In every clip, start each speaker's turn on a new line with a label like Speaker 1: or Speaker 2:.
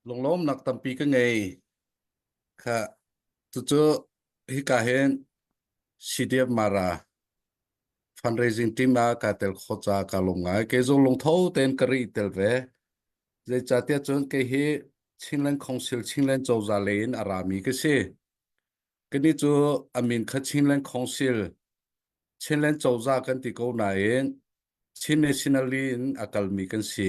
Speaker 1: lunglawmnak tampi ka ngei kha cucu hika hin CDF Mara fundraising team ah ka tel kho ca ka lung ngai kei zong lungtho tein ka ri tel ve zeicahtiah cun kei hi Chinland Council Chinland cozah lei in a rami ka si kani cu amin kha Chinland Council Chinland cozah kan ti ko nain Chin nationally in a kalmi kan si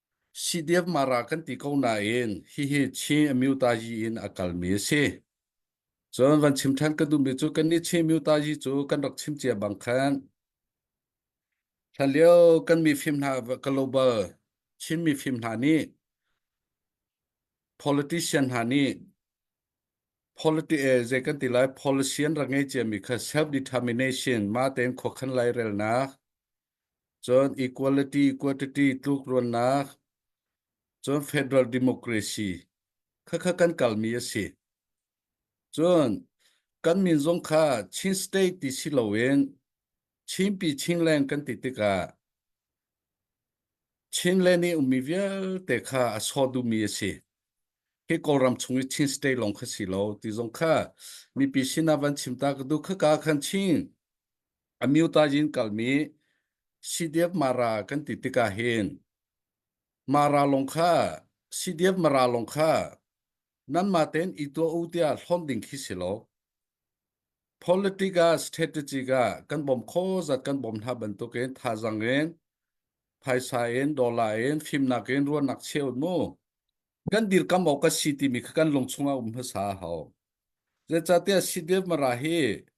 Speaker 1: CDF Mara kan ti ko nain hihi Chin Amyutaji in a kalmi a si. Cun van chim ṭhan ka duhmi cu kannih Chin Amyutaji cu kan rak chim cia bang khan hlanlio kan mifim hna global Chin mifim hna nih politician hna nih politi eh, zei kan ti lai policy an ra ngei ciami kha self determination ma tein khuakhan lai relnak cun equality quantity tlukruannak cun federal democracy khakha kan kalmi a si cun kan min zong kha Chin state ti si loin Chinpi Chinland kan ti tikah Chinland i ummi vialte kha a sawh duhmi a si hi kawlram chung i Chin state lawng kha si lo ti zong kha mipi sinah van chim ta ka duh khaka khan Chin Amyuta yin kalmi CDF Mara kan ti tikah hin Mara lawng kha CDF Mara lawng kha nanmah tein i tuah u tiah hlawnh ding khi si lo. Politic ah strategic ah kan bawm kho zat kan bawm hna bantukin thazang in phaisa in dollar in fimnak in ruahnak cheu mu kan dirkam awk ka si timi kha kan lung chungah um hmasa hau. Zeicahtiah CDF Mara hi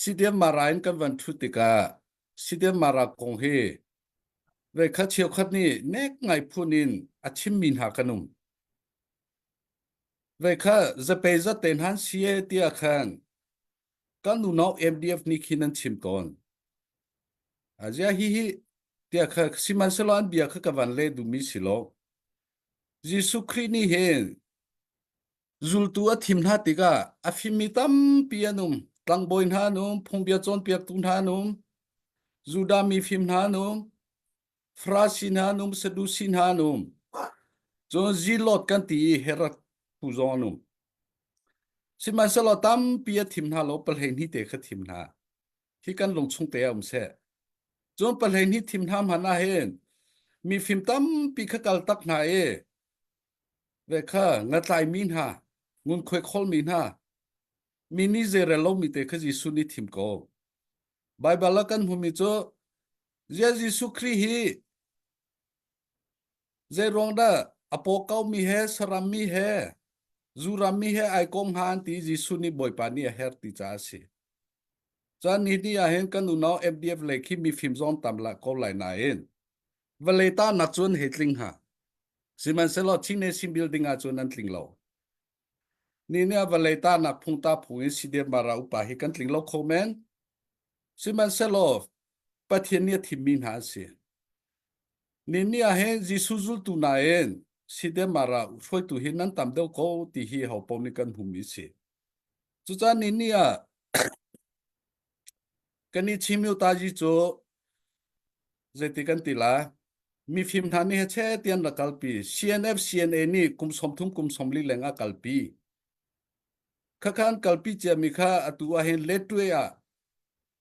Speaker 1: Sidiam Mara in kan van thut tikah Sidiam Mara kong hi veikhat cheukhat nih nek ngai phun in a chimmi hna kan um. Veikhat zapei zate nan si e tia khan kan nu no MDF ni khi nan chim tawn. Azia hi hi tia kha siman selo an bia kha ka van le dumi silo. Jesuh Khrih ni hin Zultu a thim hna tikah a fimmi tampi an um. Tlangbawi hna an um, phungbia cawnpiaktu hna an um, Judah mi fim hna an um, Farasi hna an um, Sadusi hna an um. Cun Zilot kan ti i Herod tu zong an um. Sihmanhsehlaw tampi a thim hna lo pahlein hi te kha thim hna. Hi kan lung chung te a um seh. Cun pahlein hi thim hna hman ahhin mi fim tampi kha kal tak hna i ve kha ngatlaimi hna ngunkhuai kholmi hna mi nih zeirel lomi te kha Jesuh nih thim ko Baibal a kan hmumi cu Zia Jesuh Khrih hi zeiruang dah a pawkaumi he sarammi he zurami he ai kong ha an ti Jesuh nih Bawipa nih a her ti caah a si caan ni ni ah hin kan unau FDF le khi mifim zong tam la ko lai nain Vale ta nak cun he tling ha. Sihmanhsehlaw teenage building ah cun an tling lo. Ni nih vale ta nak phung ta phung in si dep mara upa hi kan tling lo kho men. Sihmanhsehlaw Pathian nih a thimmi hna an si. Ni ni ahin Jesuh zultu na in si dep mara hruaitu hi nan tam deuh ko ti hi ho pom nih kan hum i si. Cucaan ni ni ah Kan i chimiltaji cu zeiti kan ti la mifim hna nih che ti an ra kalpi CNF CNA nih kum som thum kum som li leng a kalpi khakha an kalpi ciami kha atu ah hin Latwe ah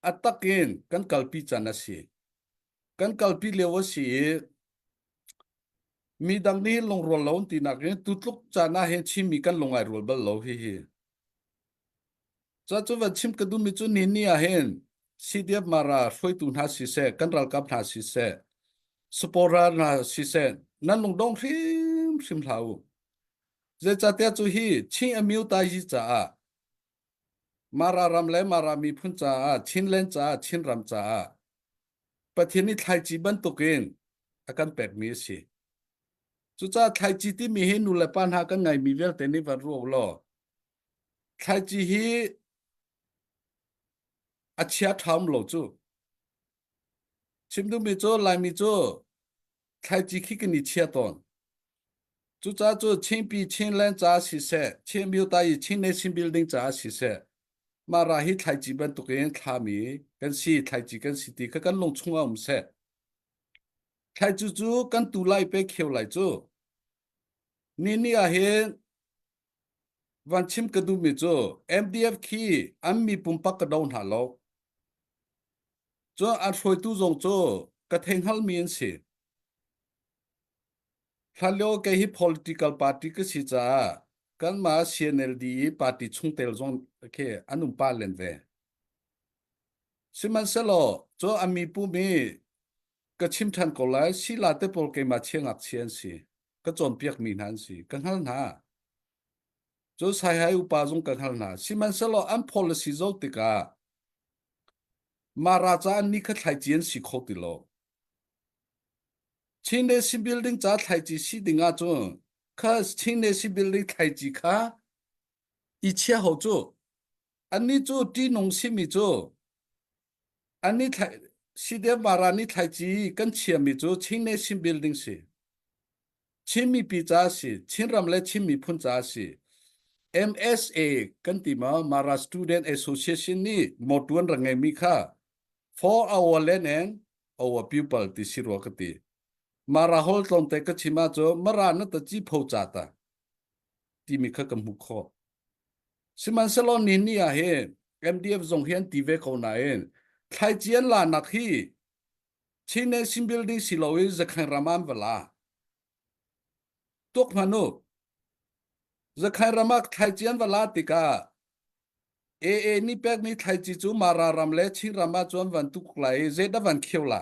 Speaker 1: a tak in kan kalpi can a si kan kalpi lio a si i mi dang nih lungrual lo an ti nak in tutluk can ah hin chimmi kan lungai rual bal lo hihi Cuacu va chim ka duhmi cu ni ni ah hin CDF mara hruaitu hna siseh, kan ralkap hna siseh, supporter hna siseh, nan lungdong hrimhrim hlah u. Zeicahtiah cu hi Chin Amyu Taiji caah Mara ram le Mara miphun caah, Chinland caah, Chinram caah Pathian i thlaici bantukin a kan pekmi a si. Cucaah thlaici timi hi nu le pa hna kan ngaimi vialte nih va ruah u law Thlaici hi a chia ṭham lo cu. Chim duhmi cu Laimi cu thlaici khi kan i chia tawn. Cucaah cu Chinpi Chinland caah siseh, Chin Myotai i Chin Nation Building caah siseh, mah ra hi thlaici bantuk in thlami kan si, thlaici kan si ti kha kan lung chungah um seh. Thlaici cu kan tu lai pe kheo lai cu. Ni ni ahhin Van chim ka duhmi cu MDF khi an mi pumpak ka do hna lo. Cu a hruaitu zong cu ka theihngalmi an si. Hlanlio kei hi political party ka si caah kanmah CNLD i party chungtel zong khi an um pa len ve. Sihmanhsehlaw cu a mi pum i ka chim ṭhan ko lai, sila te pawl keimah chiangak chi an si. ka cawnpiakmi hna an si ka hngal hna cu saihai upa zung ka hngal hna sihmanhsehlaw an policy zo tikah mah raca an ni kha thlaici an si kho ti lo Chin Nation Building ca thlaici si ding ah cun kha Chin Nation Building thlaici kha i chia ho cu anni cu ṭihnung simi cu an ni thlai Sidev Maran ni thlaici kan chiami cu Chin Nation Building si. Chin mipi ca si, Chin ram le Chin miphun ca si. MSA kan ti ma Mara Student Association nih motuan ra ngeimi kha for our land and our people ti si rua ka ti. Mara hol tlawngte ka chim ah cu Mara na ta chi pho ca ta. timi kha kan hmuh khawh. Sihmanhsehlaw ni ni ah hi MDF zong hi an ti ve ko nain thlaici an lanak hi Chin Nation Building si lo i Zakhain ram an va la. Tuk hman u. Zakhain ram ah thlaici an va la tikah AA nih pekmi thlaici cu Mara ram le Chin ram ah cun van tuk lai i zeidah van khio la?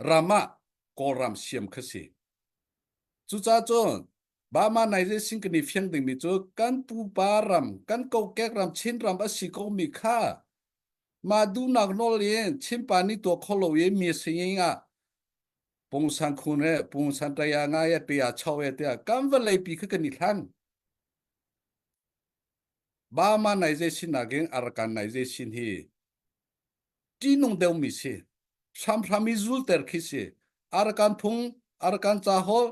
Speaker 1: ram ah Kawlram siam kha si. Cucacun Burma Naizing kan i fiang dingmi cu kan pupa ram, kan kokek ram, Chin ram a si komi kha ma dunak nawl in Chinpa ni tuah kho lo i mi singing ah pungsan khun he pungsan taya nga ye pe ya chau he te kan va lei pi kha kan i hlan Burma Naizing sin nakin Arakan Naizing sin hi ṭihnung deuhmi si hramhram i zulter khi si arakan phung arakan cahol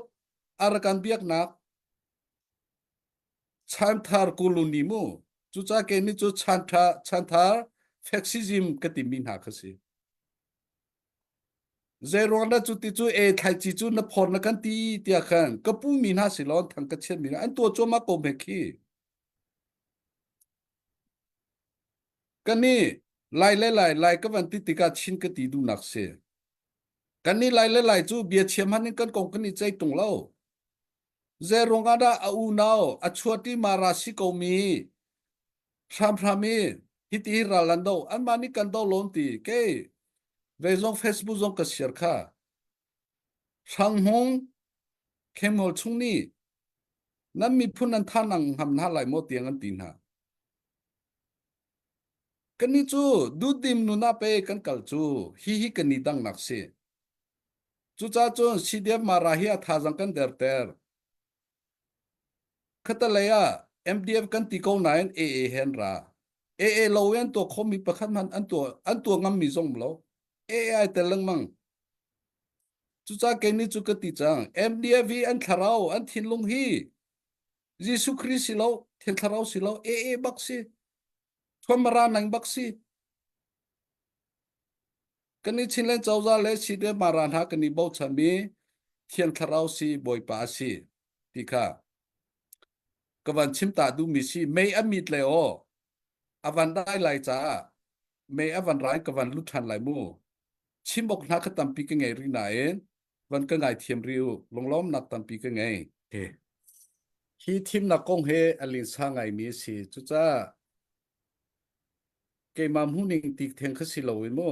Speaker 1: arakan biaknak chanthar kuluni mu cuca ke ni cu chantha chanthar faxism ka timi hna kha si zei ruang da cu ti cu e thlaici cu na phor na kan ti tia khan ka pu mi hna si lon thang ka chiat mi an to choma ko me khi Ka nih lai le lai lai ka van ti tikah Chin ka ti duhnak si. Kan nih lai le lai cu bia chiam han in kan kong kan i cei tung lo. Zei ruang ah dah a unau a chuat i mara si ko mi hramhram i hiti hi ral an do anmah nih kan do lon ti kei vei zong Facebook zong ka share kha Hrang Hmung Khemol chung nih nan miphun an than ang ham hna lai maw tiang an ti hna Kannih cu duhdim nun ah pe kan kal cu hihi kan i dangnak si. Cucaah cun CDF Mara hi a thazaang kan derter. Khatalei ah MDF kan ti ko nain AA he an ra. AA lo i an tuah khomi pakhat hmanh an tuah an tuah ngammi zong lo. AA ai tel lengmang. Cucaah kei nih cu ka ti cang. MDF hi an thlarau, an thinlung hi Jesuh Khrist si lo, thil thlarau si lo, e e bak si, chomara nang bak si, kan i chin le cozah le si le mara hna kan i bochan mi thiang thlarau si Bawipa si ti kha ka van chim ta duhmi si mei a mit le aw a van dai lai caah mei a van rai ka van lut ṭhan lai mu chim awk hna ka tampi ka ngei rih nain van ka ngaithiam ri u lunglawmnak tampi ka ngei e hi thimnak kong he a linsa ngaimi a si cucaah keimah hmuhning tik theng kha si lo i mu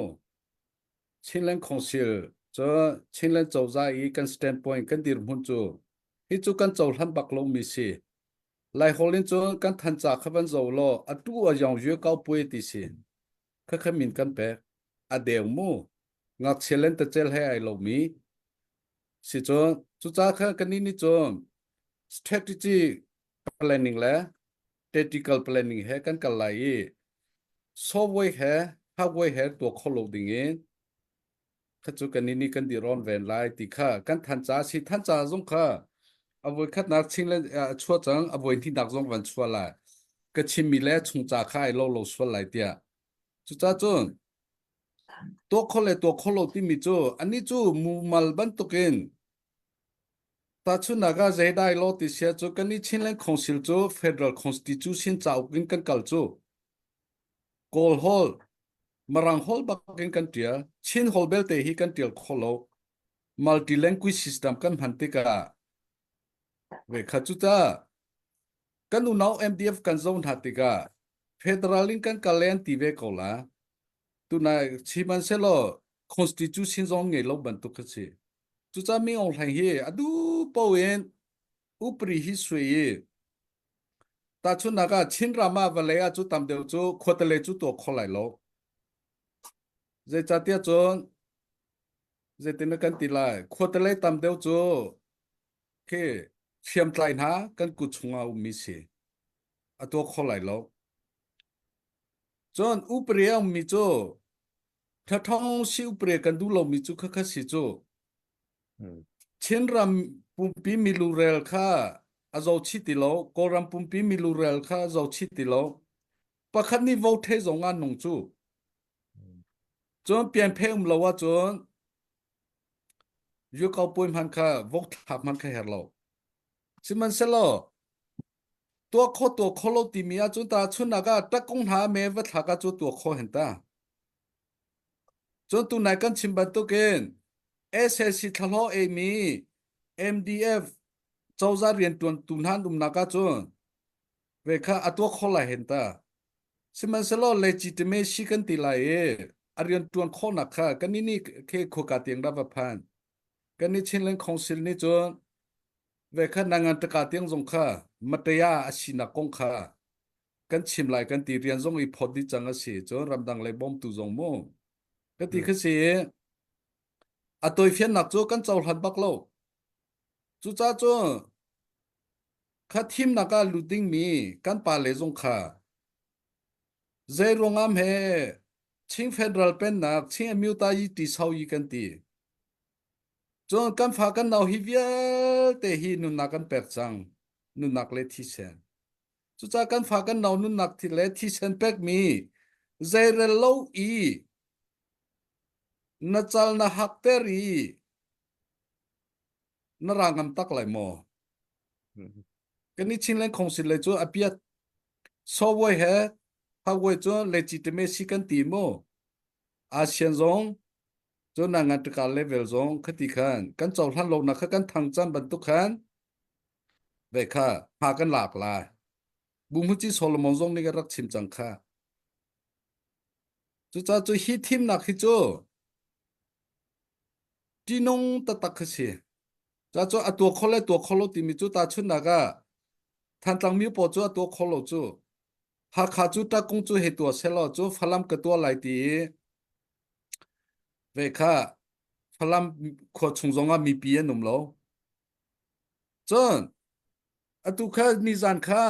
Speaker 1: Chinland Council cu Chinland cozah i kan standpoint kan dirhmun cu hi cu kan cohlan bak lomi si lai hol in cun kan thanca kha van zo law a tu a yong yue kau pue ti si khakha min kan pek a deu mu ngakchia lentacel he ai lomi sicun cuca kha kannih nih cun strategy planning le tactical planning he kan kal lai i software he hardware he tuah kho lo ding in kha cu kannih nih kan diron ven lai ti kha kan than ca si than ca zong kha a voi khatnak ching le a chua cang a voi hninak zong van chua lai ka chimmi le chung ca kha ai lo lo sual lai tiah Cucacun tuakhol le tuakhol lo timi cu anih cu mumal bantukin tahchunnak ah zeidai law ti sia cu kan i Chinland Council cu Federal Constitution cauk in kan kal cu Kawl hol Marang hol bakin kan ṭial Chin hol belte hi kan ṭial kho lo multi language system kan hman tikah ve kha cucah Kan unau MDF kan zoh hna tikah federal in kan kal le an ti ve ko la. Tunai sihmanhsehlaw constitution zong ngei lo bantuk kha si. Cucah Ming Aung Hlaing hi a duh po in upri hi sui i tahchunnak ah Chin ram ah vawlei ah cu tam deuh cu khuatale cu tuah kho lai lo. Zeicahtiah cun zeitin kan ti lai khuatale tam deuh cu Okay, hriamtlai hna kan kut chungah a ummi si. A tuah kho lai lo. Cun upre a ummi cu thathong si upre kan duh lomi cu khakha si cu Chin ram pumpi milu rel kha a zo chi ti lo Kawlram pumpi milu rel kha a zo chi ti lo pakhat nih vote thei zong an nung cu cun pian pheng um lo ahcun Yuko puai hman kha vok thla hman kha her lo. Sihmanhsehlaw tua kho tua kho lo timi ahcun ta chunnak ah takung hna me va thla ka cu tua kho hen ta. Cun tunai kan chim bantukin SSC thlalo e mi MDF cozah rian tuan tu hnan umnak ahcun ve kha a tua kho lai hen ta sihmanhsehlaw legitimacy kan ti lai i a rian tuan khawhnak kha kan ni khe khoka tiang ra va phan kan ni chinland council nih cun ve kha nangan taka tiang zong kha mataya a sinak kong kha kan chim lai kan ti rian zong i phot di chang a si cun ramdang le bom tu zong mu ka ti kha si a toifiannak cu kan cohlan bak lo cuca cu Kha thimnak ah lut dingmi kan pale zong kha zeiruangam he Chin Federal Pennak Chin Amyutayi Tiso yi kan ti. Cun kan fa kan nau hi vialte hi nunnak kan pek cang. Nunnak le thisen. Cucah kan fa kan nau nunnak le thisen pekmi zeirel lo i na cal na hak ter i na ra ngam tak lai maw kan i chin leng khongsin le cu apiat software he hardware cu legitimacy kan ti mo asian zong cu na ngan taka level zong khati khan kan chau hlan lo nak kha kan thang chan bantuk khan ve kha ha kan lak lai bu mu chi solomon zong ni ga rak chim chang kha cu cha cu hi thim nak hi cu Ṭihnung taktak kha si. Ca cu a tua kho le tua kho lo timi cu tahchunhnak ah Thantlang mi pawl cu a tua kho lo cu. Hakha cu Ṭakkung cu hei tua sehlaw cu Falam ka tua lai ti i vei kha Falam khua chung zongah mipi an um lo. Cun atu kha nizan kha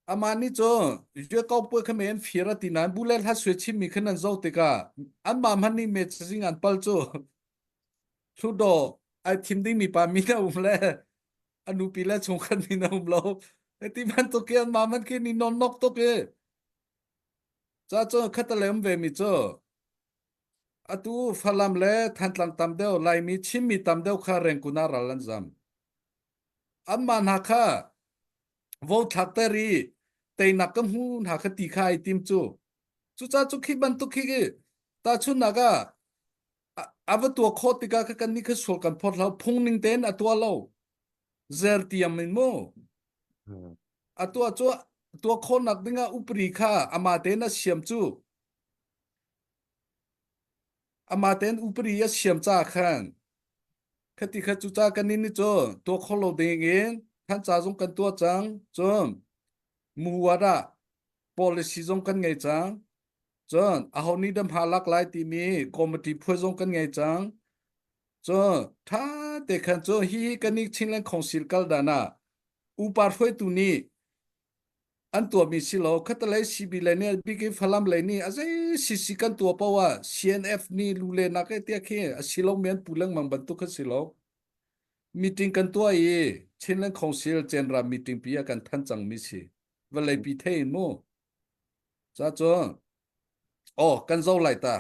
Speaker 1: Aman ni cho yue kau pu kha men fir ati nan bu le hla swe chim mi khan an zo te ka an ma man ni me ching an pal chu thu do ai thim ding mi pa mi na um le anu pi le chung khan ni na um lo eti man to ke an ma man ke ni non nok to ke cha cho khatalem ve mi cho atu falam le thantlang tam deo lai mi chim mi tam deo kha reng kuna ral an zam anmah hna kha vothlatter i teinak ka hmu hna kha ti kha ai tim cu cucaah cu khi bantuk khi i tahchunhnak ah a va tuah khawh tikah kha kan nih kha sual kan phawt lo phungning tein a tuah lo zer tiam in mu a tuah cu tuah khawnak dingah upri kha ama tein a siam cu ama tein upri a siam ca khan Khati khat cu ca kan nin cu tuah kho lo ding in than ca zong kan tuah cang. Cun muhuat ah policy zong kan ngei cang. Cun aho nih dah hma lak lai timi committee phuai zong kan ngei cang. Cun tha te khan cu hi hi kan nih Chinland Council kal dan ah upa hruaitu nih an tuahmi si lo khatalei CB le nih big in Falam lei nih a zei sisi kan tuah poah ah CNF nih lu le nak e tia khi a si lo men pu lengmang bantuk kha si lo meeting kan tuah i Chinland Council general meeting pi ah kan than cangmi si vallei pi thei mu ca cu oh kan zo lai ta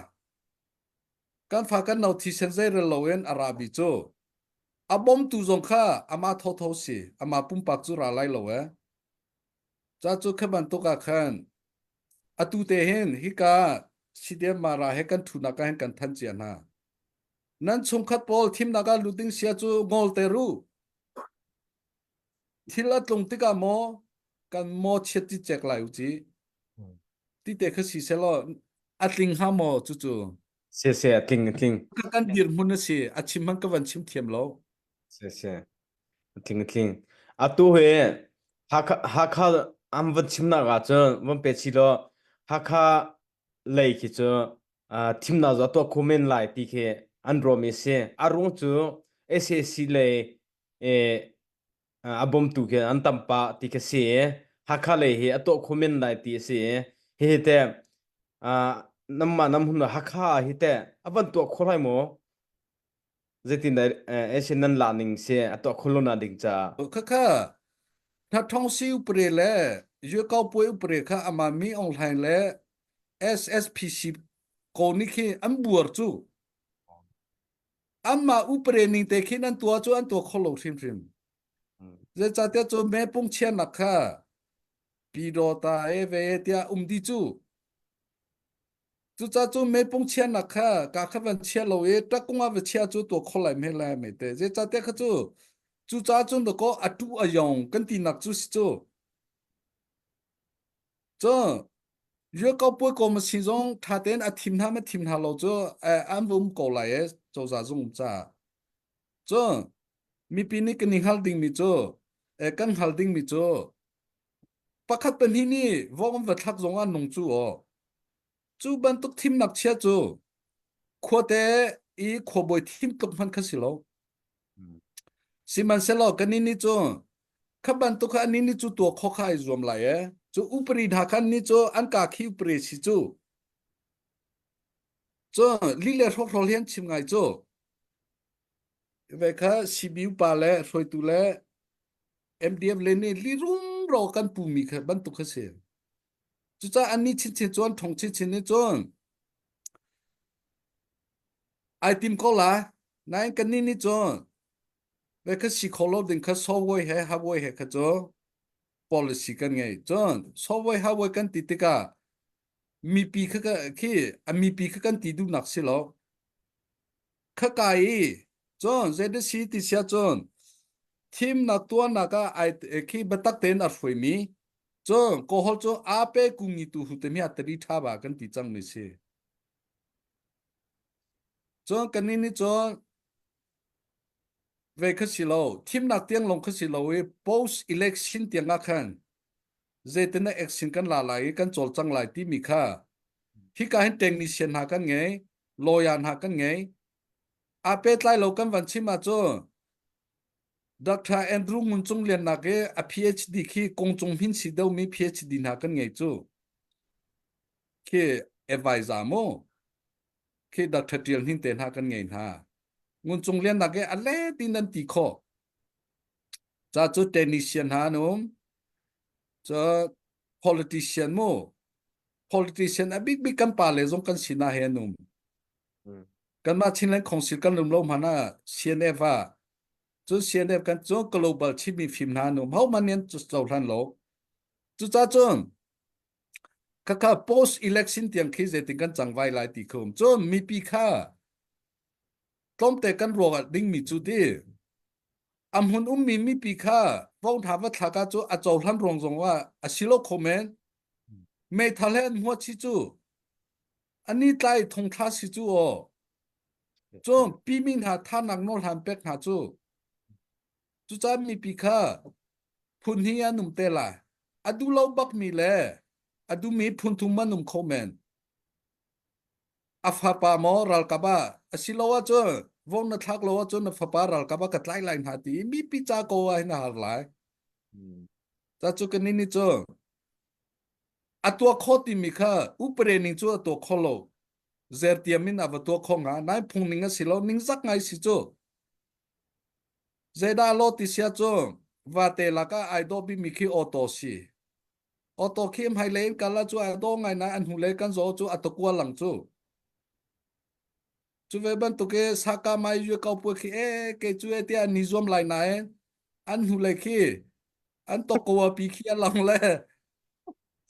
Speaker 1: kan fa kan no thisen zeirel loin a rabi cu a bomtu zong kha ama thotho si ama pumpak cu ra lai lo e cha cu khe bantuk ah khan atu te hin hika sidiam mara he kan thunak ka hen kan than cia hna nan chungkhat pawl thimnak ah lut ding sia cu ngol te ru thil a tlung tikah maw kan maw chiat ti chek lai u ci ti te kha si selaw a tling ha maw cu cu se se a tling
Speaker 2: a tling kan dir mun a
Speaker 1: si a chim man ka van chim thiam lo se se
Speaker 2: a tling a tling a tu he hakha am van chim na ga chu van pe chi lo hakha lei khi chu thimna zo to kumen lai ti khi an rom e se arung chu SAC lei e, a bawmtu khi an tam pah ti khi si i Hakha lei hi a tuah kho men lai ti a si i hihi te ah namma nam hun Hakha ah hi te a van tuah kho lai maw zeitin dah eh, Asian nan la ning si a tuah kho lo na ding caah khakha
Speaker 1: tha thong si upre le yo kau pue upre kha ama mi online le SSPC ko ni khi an buar chu Amma uparen ning te khin an tua cu an tua kho lo hrimhrim. Zeicahtiah cu me pung chian lak kha pido ta e ve tiah um di cu. Cuca cu me pung chian nak kha ka kha van chia lo i takung a va chia cu tua kho lai me lai mai te. Zeicahtiah kha cu cuca cun dako atu ayong kan ti nak cu si cu. Cu riakau puakom a si zong ṭha tein a thim hna ma thim hna lo cu an vum ko lai i cozah zung ca. Cu mipi nih kan i hngal dingmi cu kan hngal dingmi cu pakhat pahnih nih vok an va thlak zong ah nung cu aw. Cu bantuk thimnak chia cu khuate i khuabawi thim tluk hman kha si lo. Sihmanhsehlaw kan ni cu kha bantuk kha ni ni cu tua kho kha ai zuam lai e cu upari hna khan ni cu an ka khi upari si cu cu li le hrokhro hian chim ngai cu ve kha CBU pa le hruaitu le MDF le nih lirum ro kan pumi kha bantuk kha si Cucaah annih chinchin cu an ṭhong chinchin nih cun ai tim ko lai. Nain kannih nih cun ve kha si kho lo ding kha software he hardware he kha cu policy kan ngei. Cun software hardware kan ti tikah mipi kha khi a mipi kha kan ti duhnak si lo. khakai i cun ZSC ti sia cun thimnak tuarnak ah ai khi batak tein a hruai mi cun kohol cu ape kungi tu hu te mi atari tha ba kan ti chang mi si cun kan ni cun ve kha si lo thimnak tiang long kha si lo i post election tiang ah khan zetene action kan la lai i kan chol chang lai ti mi kha hi ka hin technician ha kan ngei lawyer hna kan ngei. A pehtlai lo kan van chim ah cu Dr. Andrew Ngun Cung Liannak i a PhD khi kong cung hin si domi PhD hna kan ngei cu. Khi advisor mu khi Dr. Tial Hnin te hna kan ngei hna. Ngun Cung Liannak i a let in an ti kho. Ca cu technician hna an um. Cu politician mu politician a bik bik kan pa le zong kan sinah he an um kanmah Chinland Council kan lum lo hmana CNF a cun CNF kan cu global chimi fim hna num hau man nian cu zo hlan lo cu ca cun kaka post election tiang khi zeitin kan chang vai lai ti khum cun mipi kha Tlawmte kan ruangah dingmi cu ti a hmun ummi mipi kha vongtha va thlaka cu a cohlan ruang zongah a si lo kho men meithal he an hua chi cu ani tlai thongtha si cu o cun pimi hna thanak nawl hlan pek hna cu cuca mipi kha phun hi an um te la a duh lo bakmi le a dumi phun thum an um kho men A fapa maw ralkap ah asiloah cu vong na thlak lo ahcun na fapa ralkap ah ka tlai lai hna ti i mipi ca ko ah hin a har lai. Ca cu ka ni ni cu a tua kho timi kha upre ning cu a tua kho lo. Zertiam in a va tua kho nga nai phung ning a si lo ningzak ngai si cu. Zeidah lo ti sia cu vate lak ah ai do bimi khi auto si. Auto khi hmai le in kala chu a do ngai nai an hnu le kan zo chu atokwa lang chu. Chu ve bantuk e saka mai yu kau pua khi e ke chu e tia ni zuam lai nai an hnu le khi an tokowa pi khi alang le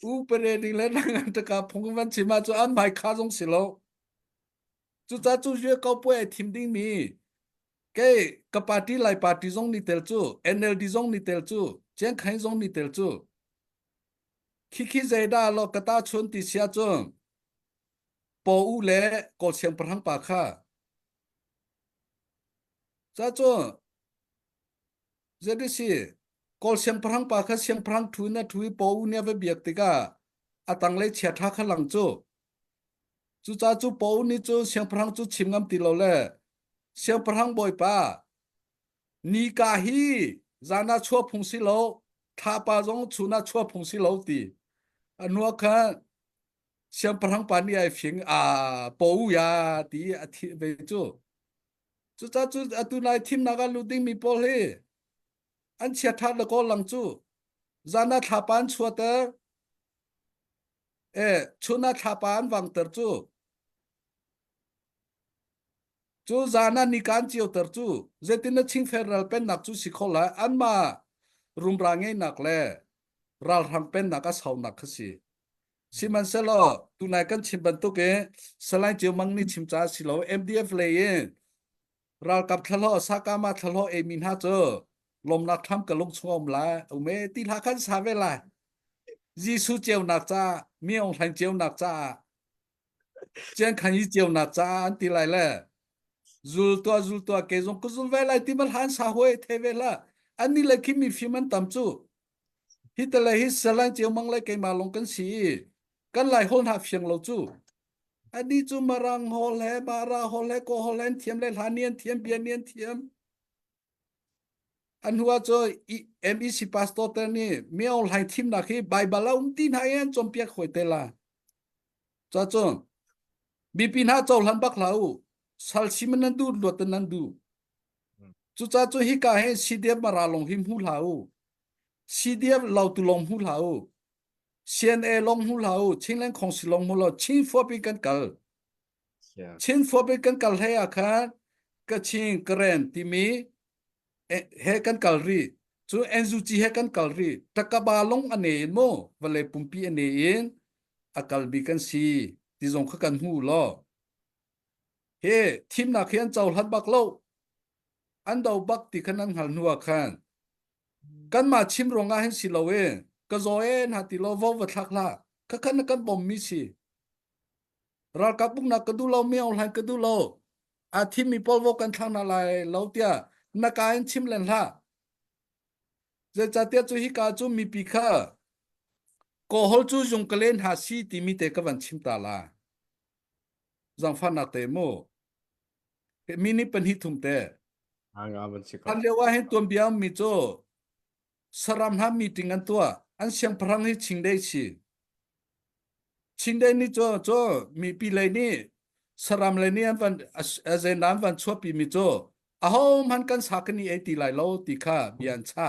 Speaker 1: u pere ding le nang an taka phung van chima chu an mai kha zong si lo. Chu cha chu yu kau pua e thim ding mi Kei ka party Lai party zong ni tel cu NLD zong ni tel cu Chiang Khai zong ni tel cu khikhi zaida lo kata chun ti sia cu po u le ko siang parang pa kha cha cu ZDC kol siang parang pa kha siang parang thu na thu po u ne va biak tika atang lei chia tha kha lang chu Cucaah cu paw nih cun siangpahrang cu chim ngam ti lo le, Siangpahrang bawipa, ni ka hi zan ah chuah phung si lo, thlapa zong chun ah chuah phung si lo ti a hnuah khan siangpahrang pa nih ai fing a paw ya ti a thih ve cu. Cucaah cu atu nai thimnak ah lut dingmi pawl hi an chia ṭhat le kaw lang cu zan ah thlapa an chuahter. e chun a thlapa an vang ter cu cu zan an nikan cio ter cu zetin a chingfer ral pen nak cu si kho la an ma rumra ngei nak le ral rang pen nak a sau nak kha si sihmanhsehlaw tunai kan chim bantuk e salain ceu mang ni chim ca si lo MDF lei in ralkap thlahlawh sakama thlahlawh ei mi hna cu lomnak tham ka lung chungom lai ume ti hla khan sa ve lai Jesu ceunak ca mi ong hlain ceunak ca chian khan i ceunak ca an ti lai le zul tua zul tua ke zong ku zul ve lai ti mal han sa hoi the ve la ani la khi mi phim an tam chu Hi te le hi Salai Ciaomang le keimah lawng kan si i kan lai hol hna fiang lo cu. Adi cu marang hol he, bara hol he, kaw hol he an thiam le hla ni an thiam, bia ni an thiam. An hua cu MEC pastor te nih meo hlai thimnak hi Baibal a um ti hna i an cawmpiak hoi te la. Ca cu bipi hna co hlan bak hla u. Sal siman nan du luat nan du. Cuca cu hika he CDF mara lawng hi hmu hlah u. CDF lautu lawng hmu hlah u. CNA lawng hmu hlah u. Chinland Council lawng hmu law Chin Forp in kan kal. Yeah. Chin Forp in kan kal hlei ah khan Kachin, Karen timi eh, he kan kal rih. Cu NUG he kan kal rih. Takaba lawng a ne in mu. Vale pumpi a ne in a kalbi kan si. Ti zong kha kan hmu law. He thimnak hi an cohlan bak lo. An do bak ti khan an hngal hnuah khan kanmah chim ruangah hin si lo e ka zaw e na ti lo vo va thlak hla ka khan na kan bom mi si ralkap buknak ka du lo mi online ka du lo a thim mi pawl vo kan thlang na lai lo tia na ka in chim len hla zeicahtia cu hi ka cu mi pi kha kohol cu zung ka len ha si ti mi te ka van chim ta la Zaangfahnak te mu. Mi nih pahnih thum te.
Speaker 2: Hlan lio ah hin tuanbia
Speaker 1: mi cu saram hla meeting an tua an siang pharang hi chingdei si chingdei ni cho cho mi pi lei ni saram lei ni an van azen an van chuapi mi cho ahom han kan sa kan i ei ti lai lo ti kha bia an cha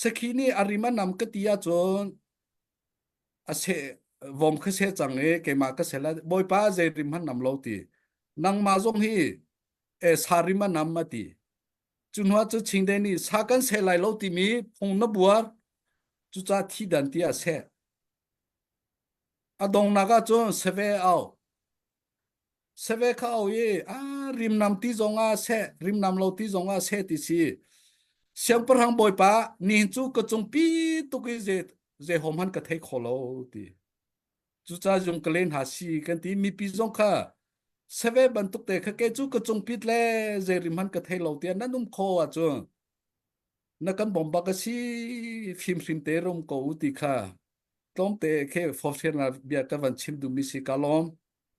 Speaker 1: sakhi nih a rim a nam ka ti ahcun a se vom kha se cang i keimah ka sel bawipa zei rim han nam lo ti nangmah zong hi e sa rim a nam a ti cu hnuah cu chingde nih sa kan se lai lo timi phung na buar cucah thi dan ti a se a dongnak ahcun save au Seve kha au i a rimnam ti zongah seh rimnam lo ti zongah seh ti si siangpahrang bawipa nihin cu ka cung pi tuk i ze ze hom han ka thei kho lo ti cucaah zung ka len hna si kan ti mipi zong kha save bantuk te kha ke cu ka cung pit le zei rim han ka thei lo tiah nan um kho ahcun na kan bomba ka si fim hrim te rom ko u ti kha tlawmte khe fofsir na bia ka van chim dumi si ka lawm